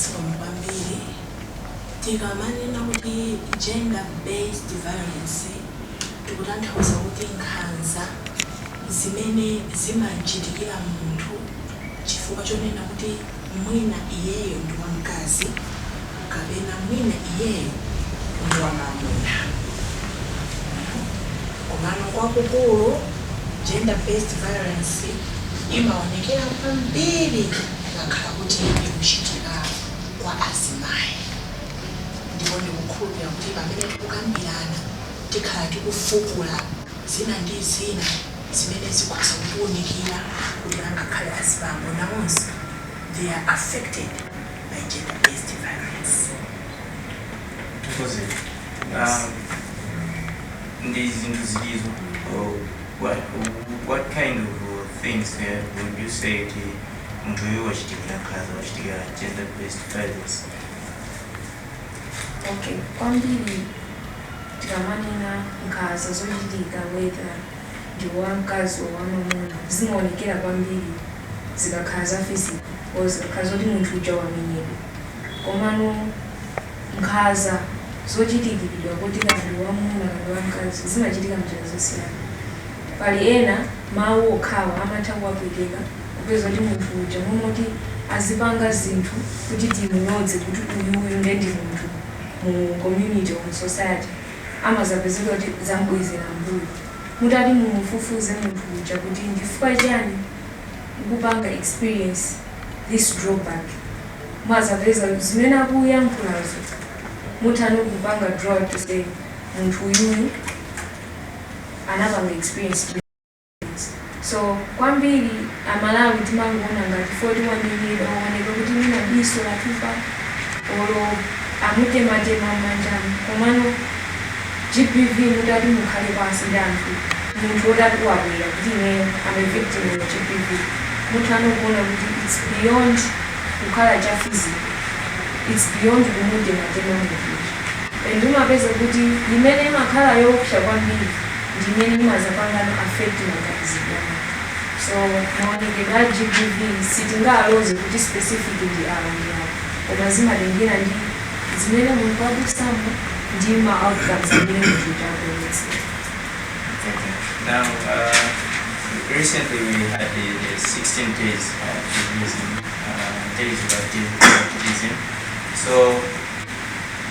Zikomo kwambiri. Tikamanena kuti gender based violence tikutanthauza kuti nkhanza zimene zimamchitikira munthu chifukwa chonena kuti mwina iyeyo ndi wamkazi, kapena mwina iyeyo ndi wamamuna komano kwakukulu gender based violence imaonekera kwambiri ngakhala kuti ikuchitika kwa azimayi ndipo ndikukhulupira kuti pamene tikukambirana tikhala tikufukula zina ndi zina zimene zikhoza kutiunikira kuti angakhale azibambo nawonso they are affected by gender based violence Tikhoze. Ah, ndi zinthu zilizo oh, what, what kind of uh, things uh, would you say ti munthu uyu wachitikira nkhaza wachitikira gender based violence okay kwambiri tikamanena nkhaza zochitika whether ndi wamkazi or wamwamuna zimaonekera kwambiri zikakhala za physical or zikakhala zoti munthu uja wamenyedwa. Komano nkhaza zochitikiridwa kuti kaya ndi wamwamuna kaya ndi wamkazi zimachitika m'njira zosiyana. Pali ena mawu okhawa amatha kuwapweteka kupeza kuti munthu uja mmene amati azipanga zinthu kuti tizimulodza kuti uyuyu ndiye ndi munthu mu community or mu society. amazapezeka kuti zam'bwezera m'mbuyo. Mutati mumufufuze munthu uja kuti nchifukwa chiyani ukupanga experience this drawback, mumazapeza kuti zimene akuyankhulazo muthano kupanga draw out to say munthu uyuyu anapanga experience. So kwambiri amalawi timangoona ngati chifukwa choti wamenyedwa waoneka kuti mwina diso latupa olo amutematema mmanjamu komano GBV mutati mukhale pansi ndi anthu munthu otati wabwera kuti ineyo am a victim of GBV muthano kuona kuti its beyond kukhala cha physical its beyond kumutematema munthuyi and umapeza kuti imene imakhala yoopsa kwambiri ndi imene imazapangano affect maganizidwe a munthu so maonekedwe a GBV sitingaaloze kuti specific ndi awa ndi awa koma zimatengera ndi zimene munthu wadusamo ndi ma outcomes amene munthu uja akuonetsera Thank you. Now, uh, recently we had the, the 16 days activism uh, days of activism. So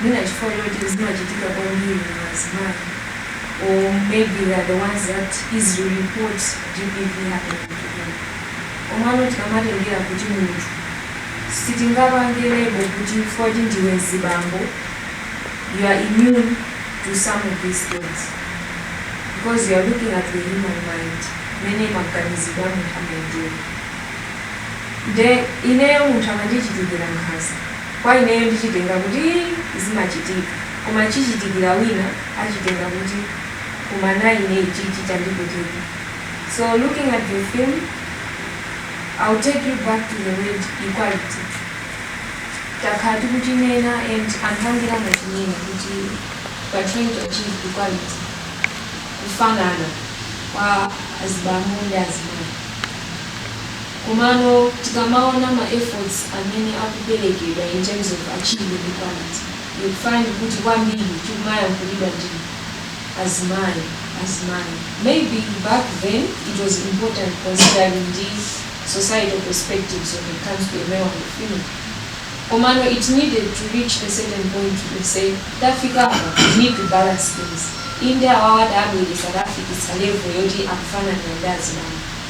mwina chifukwa choti zimachitika kwambiri mu azimayi or maybe they are the ones that easily report GBV happening to them. Komano tikamatengera kuti munthu sitingapange lebo kuti chifukwa kuti ndiwe mzibambo you are immune to some of these things because you are looking at the human mind mene maganizidwe a munthu amayendera nde ineyo munthu amandichitira nkhanza Kwa ineyo ndichitenga kuti zimachitika koma chichitikira wina achitenga kuti koma na ine ichichi chandipweteka so looking at your film I'll take you back to the word equality takhala tikuchinena and anthu ambiri amachinena kuti we are trying to achieve equality kufanana kwa azibambo ndi azimayi. Komano tikamaona ma efforts amene akuperekedwa in terms of achieving equality you'd find kuti kwambiri chimayankhulidwa ndi azimayi, azimayi. Maybe back then it was important considering the societal perspectives when it comes to a male and a female komano it needed to reach a certain point to say tafikapa we need to balance things inde awawa taabweretsa taafikitsa level yoti akufananira ndi azibambo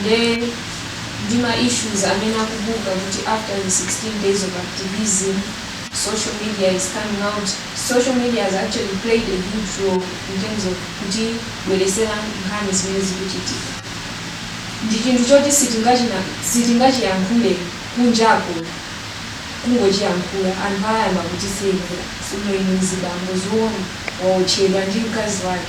nde ndi ma issues amene akubuka kuti after the 16 days of activism social media is coming out social media has actually played a huge role in terms of kutibweretsera nkhani zimene zikuchitika ndi chinthu choti sitingachina sitingachiyankhule kunjako kungochiyankhula anthu ayamba kutiseka kuti inu mzibambo zoona waotchedwa ndi mkazi wake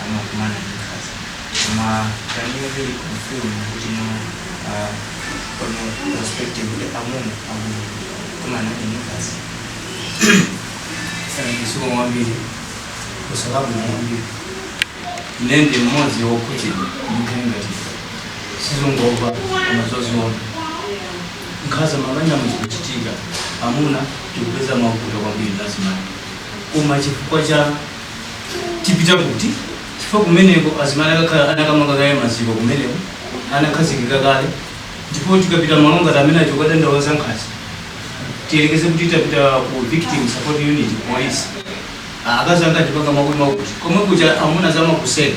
amuna amakumana ndi nkhaza koma can you really confirm kuti no uh, from your perspective kuti amuna akukumana ndi nkhaza sanandisoma kwambiri kusalabu kwambiri nane ndi mmodzi wokhudzidwa mtengati sizongova koma zodzionera nkhaza m'mabanja muzikuchitika amuna tikupeza mavuto kwambiri ndi azimayi koma chifukwa cha tipita kuti chifukwa kumeneko azimai akakhala anakamanga kale maziko kumeneko anakhazikika kale ndipo tikapita malo ngati amenewo kukadandaula za nkhanza tiyerekeze kuti tapita ku victim support unit police Ah, akazi anga andipanga zakuti zakuti komwe kuja amuna amakuseka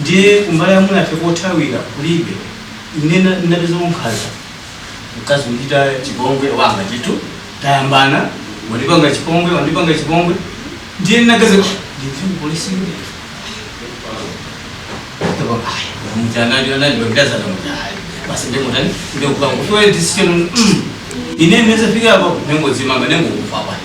ndiye kumbali ya amunafe kothawira kulibe ine na- ndinapeza nkhaza mkazi kuchita chipongwe wanga chitu tayambana wandipanga chipongwe wandipanga chipongwe ndiye ndinaganiza ndipite polisi ndi ine ndinazafika poti ndingodzimanga ndingofa pale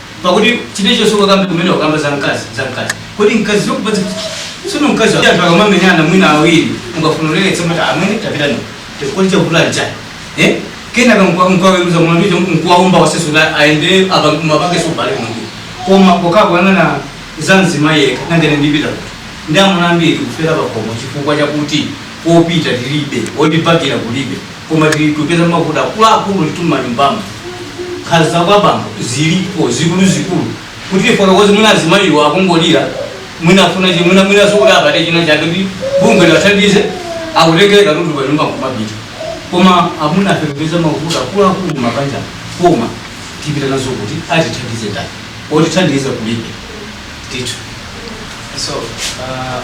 Pakuti chilichonse ungakambe kumene wakamba za mkazi za mkazi. Kodi mkazi zokupatsa sino mkazi wa anthu akamamenyana mwina awiri mukafuna uleletse mwina amene tapita no. Chifukwa cha kula cha. Eh? Kenaka mukaweruza mlandu cha mkuwaomba waseso la aende apa mabake so bale mlandu. Koma kokakuuzana za mzimayi eka nangene ndipita. Ndi amuna ambiri kufera pakomo chifukwa chakuti kopita tilibe, otibakila kulibe, koma tikupeza mavuto akuluakulu ndithu m'manyumbamo. Nkhanza za kwa bambo zilipo zikuluzikulu, kuti tifotokoze mwina azimayiwa akungolira, mwina afuna chi- mwina mwinanso kuti apeze china chake kuti bungwe liwathandize, akutengere katundu pa nyumba nkumapita. Koma amuna ife tikupeza mavuto akuluakulu m'mabanja, koma tipita nazo kuti atithandize ndani, otithandiza kulibe ndithu. So, uh,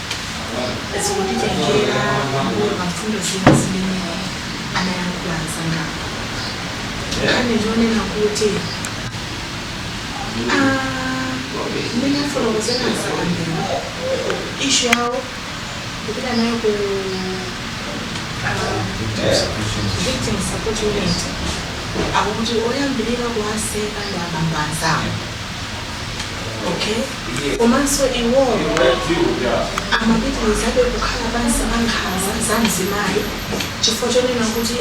zikutitengera kuona pa mfundo zina zimene anayankhula anzangawo nkhani zonena kuti mmene afotokozera a Nsakambewa ishu yawo kupita nayo ku victim support unit akuti oyambirira kuwaseka ndi abambo anzawo okay Komanso iwowo amapitirizabe kukhala pansi pa nkhanza za mzimayi chifukwa chonena kuti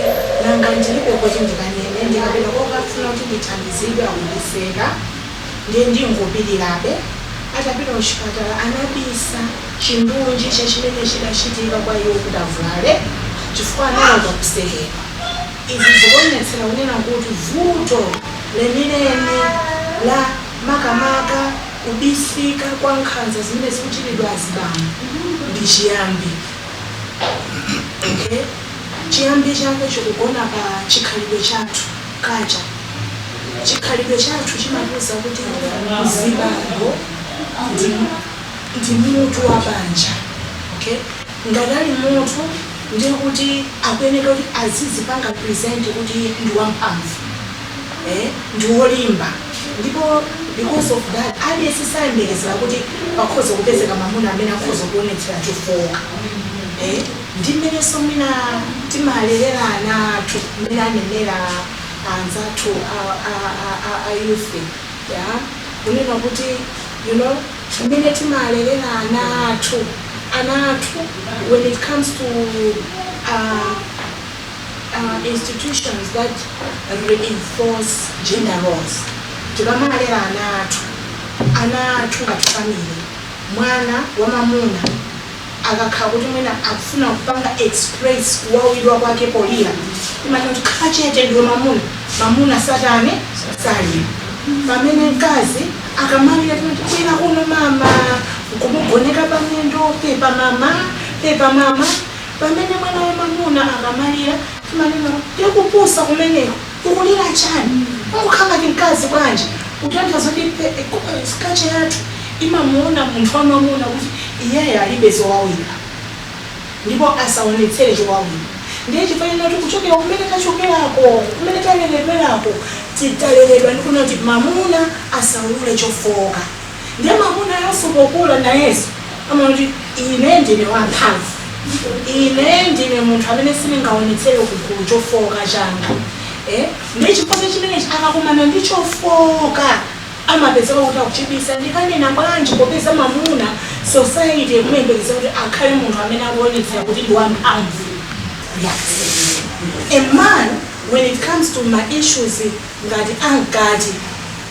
nanga ndilibe koti ndikanene, ndikapita kukafuna kuti ndithandizidwe akundiseka ndiye ndingopilirabe. Atapita kuchipatala anabisa chindunji cha chimene chidachitika kwa iwo kuti avulale chifukwa anaopa kusekedwa. Izi zikuonetsera kunena kuti vuto lenileni la. makamaka kubisika kwa nkhanza zimene zikuchitidwa azibambo ndi chiyambi okay chiyambi chake chikugona pa chikhalidwe chathu culture chikhalidwe chathu chimatiuza kuti mzibambo ndi ndi mutu wa banja okay ngati ali mutu ndiye kuti akuyeneka kuti azizipanga present kuti ndi wamphamvu eh, ndi wolimba ndipo because of that aliyense sayembekezera kuti pakhoza kupezeka mamuna amene akhoza kuonetsera chofooka eh, ndi mmenenso mwina timalerera ana athu mmene anenera anzathu a- a- a- a- a youth kunena kuti you know mmene timalerera ana athu ana athu when it comes to uh, uh, institutions that reinforce gender roles tikamalera ana athu ana athu ngati family mwana wamamuna akakhala kuti mwina akufuna kupanga express kuwawidwa kwake polira timati kuti khala chete ndiwe mamuna mamuna satane salira pamene mkazi akamalira timati bwera kuno mama nkumugoneka pamiyendo pepa mama pepa mama Pamene mwana wamamuna akamalira, timanena kuti ndiye kupusa kumeneko, ukulira chani? Ukukhala ngati mkazi bwanji? Kutanthauza kuti culture yathu imamuona munthu wamamuna kuti iyeyo alibe zowawira ndipo asaonetsere chowawira. Ndiye chifukwa chonena kuti kuchokera kumene tachokerako, kumene taleredwerako, taleredwa ndi kunena kuti mamuna asaulule chofooka. Ndiye mamunayoso pokula nayenso amaona kuti ine ndine wamphamvu, ine ndine munthu amene sindingaonetsere kugulu chofooka changa. Eh? Ndiye chifukwa chimenechi akakumana ndi chofooka amapezeka kuti akuchibisa ndikanena bwanji popeza mamuna society ikumuyembekeza kuti akhale munthu amene akuonetsera kuti ndi wamphamvu. Yeah. A man when it comes to ma issues ngati ankati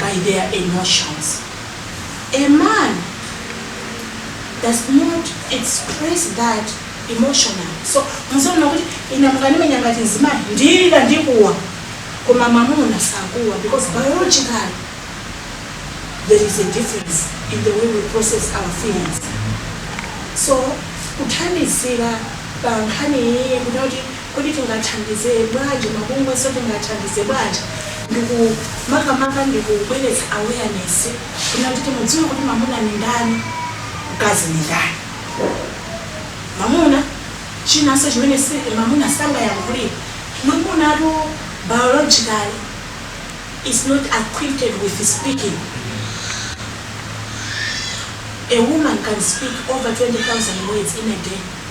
by their emotions. A man does not express that emotionally. So mudzaona kuti ine mukandimenya ngati nzimai ndilira ndikuwa koma mamuna sakuwa because biologically there is a difference in the way we process our feelings. So kuthandizira pa nkhani iyi kuti Kodi tingathandize bwanji mabungweso tingathandize bwanji ndikumakamaka ndikubweretsa awareness kunena kuti mudziwe kuti mamuna ndi ndani mkazi ndi ndani mamuna chinanso chimene mamuna sangayankhulire mamunatu biologically is not acquainted with speaking a woman can speak over 20000 words in a day.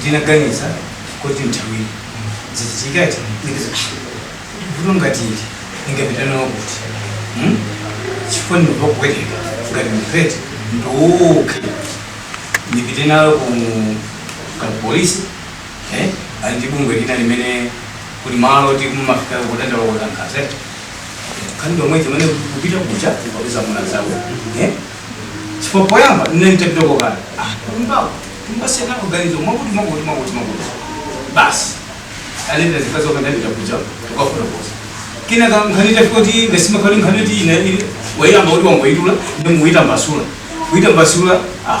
ndinaganiza kuti nthawi zikachitika ndikiza vuto ngati ili ndingapite nalo kuti hmm? chifukwa ndimva kupweteka ngati ndipete ndiuke ndipite nalo ku polisi eh? ali ndi bungwe lina limene kuli malo oti kumafika kutenda wakutangaza khandido mwezi mene kupita kucha kupeza mwana zawo eh? Chifukwa poyamba ndinali nitapitako kale. Ah, kunyumbako ndimasiya nako ganizo mwakuti mwakuti mwakuti mwakuti. Basi anapita zikazi wake ndapita kuja tukafotokoza. Kina ka nkhani itafika kuti ngasima kali nkhani kuti ina ili wayamba kuti wangoyidula ndi muyita mbasula. Kuyita mbasula ah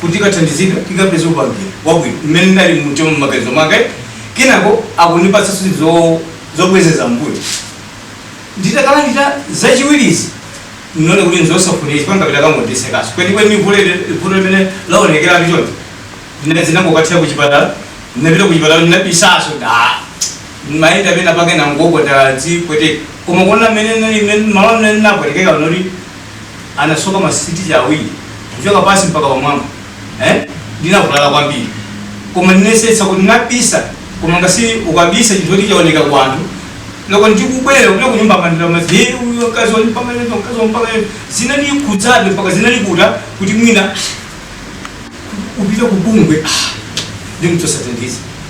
kuti ukathandizidwe, ukapeze upangiri wabwino mmene ndinali mumtima m'maganizo mwanga. Kenako akundipatsa zinthu zo- zobwezera mbuyo. Nditakalandira zachiwirizi ndinaona kuti ndizosafunika chifukwa ndikapita akangondisekanso. Kwenikweni vuto ili- vuto limene laonekera ndi choti ndinangokathera kuchipatala ndinapita kuchipatala ndinabisaso ndimayenda pena pake ndangogwa ndadzipweteka koma kuona mmene nali- mmene- malo amene ndinapwetekeka ndi oti anasoka masitichi awiri kuchoka pansi mpaka pamwamba eh? ndinavulala kwambiri koma ndinayesetsa kuti ndinabisa koma n'ngozi ukabisa chinthu choti chaoneka kwa anthu loko ndikubwera kuno kunyumba mandira mazi uyo kazi wani panga lendo kazi wani panga lendo zina ni kudzabe mpaka zinali kuda kuti mwina upita kubungwe ndi mtu satendizi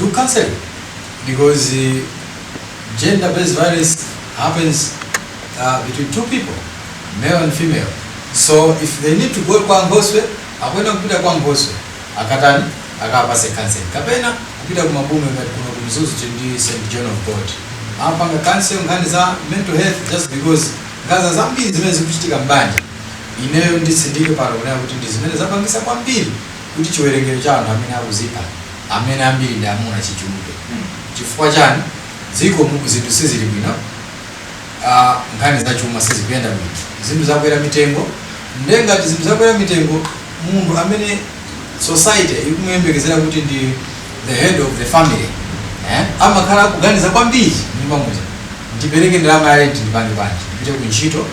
do counseling because gender based violence happens uh, between two people male and female so if they need to go kwa nkhoswe akuyenera kupita kwa nkhoswe akatani akawapatse counseling kapena kupita ku mabungwe ngati kuno ku mzuzu kuli st john of god amapanga counseling nkhani za mental health just because nkhanza zambiri zimene zikuchitika mbanja ineyo nditsindike pano kunena kuti ndi zimene zapangisa kwambiri kuti chiwerengero cha anthu amene akudzipha amene ambiri ndi amuna chichuluke chifukwa chani dziko mu zinthu sizili bwino ah, nkhani za chuma sizikuyenda bwino zinthu zakwera mitengo nde ngati zinthu zakwera mitengo munthu amene society ikumuyembekezera kuti ndi the head of the family eh, amakhala akuganiza kwambiri nyumba muja ndipereke ndalama ya rent ndipange bwanji ndipite ku ntchito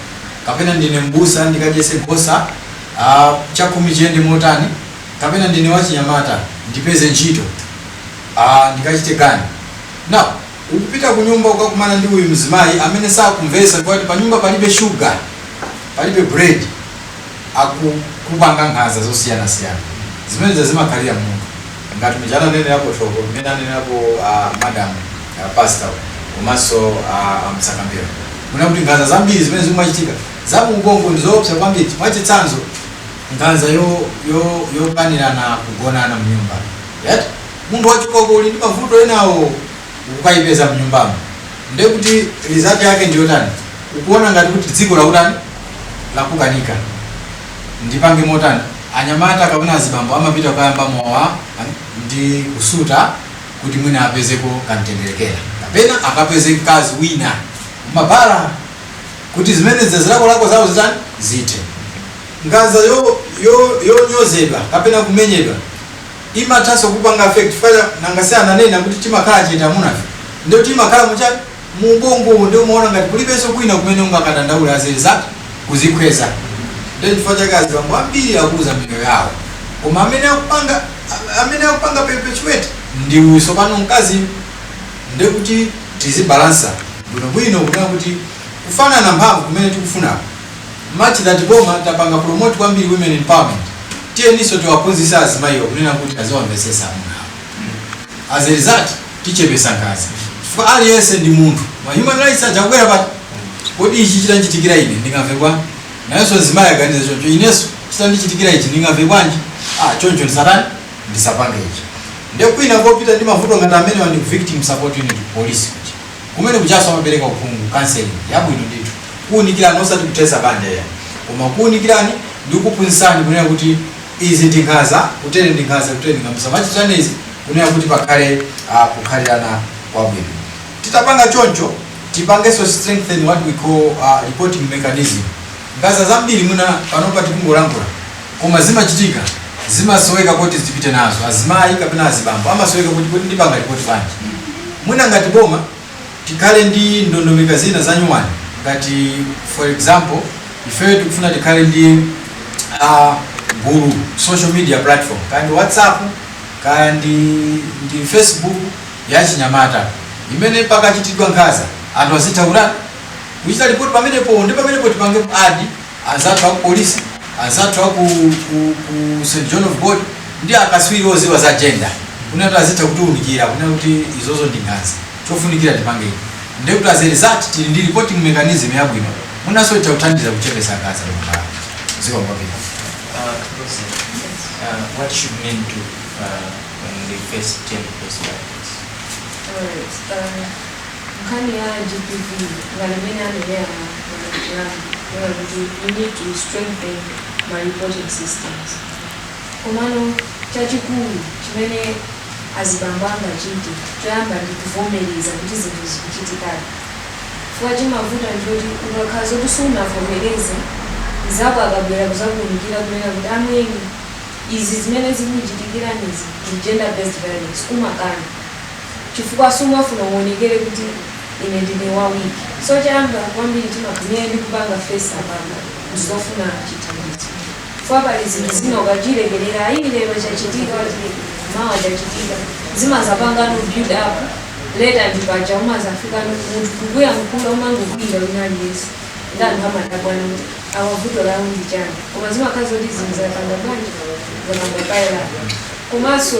kapena ndine mbusa ndikadyese nkhosa ah, chakhumi chiyende motani kapena ndine wachinyamata ndipeze ntchito aah ndikachite chani. Now ukupita kunyumba ukakumana ndi uyu mzimayi amene sakumvetsa kuti panyumba palibe sugar, palibe bread akukupanga nkhanza zosiyanasiyana. Zimenezi zimakhalira munthu ngati muja ananenerapo thoko mmene ananenerapo uh, madam uh, pastor komanso uh, a Msakambewa kunena kuti nkhanza zambiri zimene zikumachitika za mu ubongo ndi zoopsa kwambiri. Mwachitsanzo nkhanza yo yo yopanirana kugonana mnyumba yet munthu wachoka uko uli ndi mavuto enawo ukukayipeza mnyumbamo nde kuti result yake ndiyotani ukuona ngati kuti dziko lakutani lakukanika ndipange motani anyamata kapena azibambo amapita kuyamba mowa ndi kusuta kuti mwina apezeko kamtendere kaja kapena akapeze mkazi wina m'mabala kuti zimenezi zilakolako zawo zitani zithe Nkhanza yo yo yonyozedwa kapena kumenyedwa imathanso kupanga affect chifukwa cha nanga si ananena kuti timakhala chete amunafe ndio timakhala mkati mu ubongowo ndio umaona ngati kulibenso kwina kumene ungakadandaule bwezi za kuzikhweza ndio chifukwa chake azibambo ambiri akuluza miyoyo yawo koma amene akupanga a- amene akupanga perpetuate ndi uyu tsopano mkazi ndio kuti tizibalansa bwinobwino kunena kuti kufanana mphamvu kumene tikufunako much that boma tapanga promote kwambiri women empowerment tiyeninso tiwaphunzise azimayiwa kunena kuti aziwamvesesa amuna awo as a result tichepesa nkhaza chifukwa aliyense ndi munthu ma human rights akubwera pati kodi ichi chitandichitikira ine ndingamve bwanji nayenso mzimayi aganize choncho inenso chitandichitikira ichi ndingamve bwanji ah choncho ndisatani ndisapange ichi nde kwina kopita ndi mavuto ngati amenewa ndi victim support unit ku police Kumene kujanso amapereka uphungu, counseling, yabwino ndithu, kuunikirani osati kuthetsa banja iyayi koma kukuunikirani ndi kukuphunzitsani kunena kuti izi ndi nkhanza, kutere ndi nkhanza, kutere ndi nkhanza. Musamachitirane izi kunena kuti pakhale ah, kukhalirana kwabwino. Titapanga choncho, tipangenso strengthen what we call ah, reporting mechanism. Nkhaza zambiri mwina panopa tikungolankhula koma zimachitika zimasoweka koti zipite nazo azimayi kapena azibambo amasoweka kuti kodi ndipanga lipoti bwanji mwina ngati boma tikhale ndi ndondomeko zina zanyuwani ngati for example ifeyo tikufuna tikhale ndi uh, gulu social media platform kaya ndi whatsapp kaya ndi, ndi facebook yachinyamata imene pakachitidwa nkhaza anthu azithawira kuchita report pamenepo ndi pamenepo tipange ku add anzathu aku police anzathu aku ku, ku St John of God ndi akaswiri oziwa za gender kunena kuti azitha kutiunikira kunena kuti izozo ndi nkhanza chofunikira tipange ichi ndi kuti as a result tili ndi reporting mechanism yabwino mwinanso itha kuthandiza kuchepesa nkhanza likhala dziko labwino Uh, Lucy, uh, what should men do uh, when they face gender-based violence? Alright, uh, nkhani ya GBV ngati mmene anenera amalankhula kunena kuti we need to strengthen ma reporting systems komano chachikulu chimene azibambo angachite choyamba ndi kuvomereza kuti zinthu zikuchitikadi chifukwa chimavuta ndi choti ukakhala zoti sunavomereze mzako akabwera kuzakuunikira kunena kuti amwene izi zimene zikukuchitikiranizi ndi gender based violence umakana. chifukwa sumafuna uwonekere kuti ine ndine wa weak so choyamba kwambiri timakumene ndi kupanga face apapa ndikufuna chithandizo chifukwa pali zinthu zina ukachilekerera ayi lero chachitika wachileka mawa chachitika zimazapanga no build up later ndi paja umazafika munthu kukuyankhula umangokwiyira wina aliyense ndi anthu amadabwa no kuti awa vuto lawo ndi chani koma zimakhala zoti zinthu zapanga bwanji zapanga pile up komanso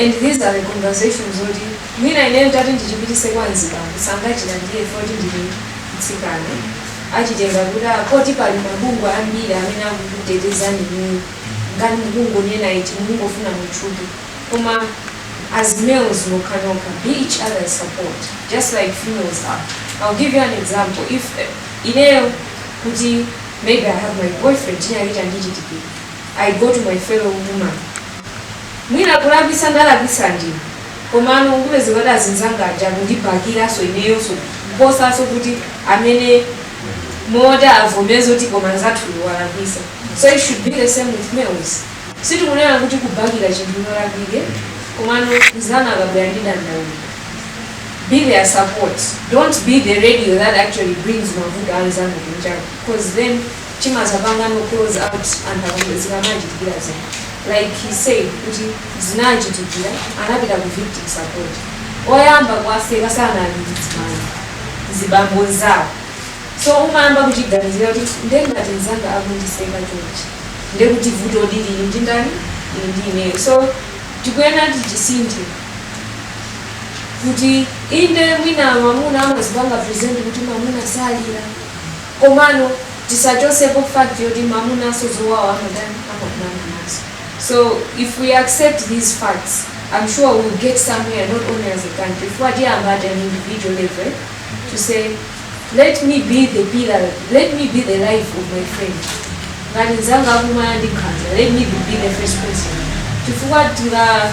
and these are the conversations zoti mwina ineyo nditati ndichipitise kwa mzibambo sangachilandire poti ndine mtsikana achitenga ngati ah, poti pali mabungwe ambiri amene akukutetezani inuyo ngati mukungonena ichi mukungofuna mutchuke koma as males nokha nokha be each other's support just like females are i'll give you an example if eh, ineyo kuti maybe i have my boyfriend china chitandichitikira I go to my fellow woman mwina kulakwisa ndalakwisa ndine komano ungopeza kuti azinzanga aja kundibakiranso ineyonso kuposanso kuti amene moti avomeze kuti koma nzathuyo walakwisa so it should be the same with males sitikunena kuti kubakira chinthu cholakwika komano mzako akabwera ndi dandaulo be their support don't be the radio that actually brings mavuto anzako kunjako because then chimazapanga no close out anthu akambe zikamawachitikira zinthu like he said kuti zinawachitikira anapita ku victim support oyamba kuwaseka sanali azimayi anali azibambo anzawo so umayamba kuchiganizira kuti ndengati mzanga akundiseka chonchi ndekuti vuto lili ndi ndani lili ndi ineyo so tikuyenera tichisinthe kuti inde mwina mwamuna amazipanga present kuti mwamuna salira komano tisachosepo fact yoti mamunanso zowawa amatani amakumana nazo so if we accept these facts im sure we will get somewhere not only as a country chifukwa tiyamba at an individual level to say let me be the pillar let me be the life of my friend ngati mzanga akumana ndi nkhanza let me be the first person chifukwa tinga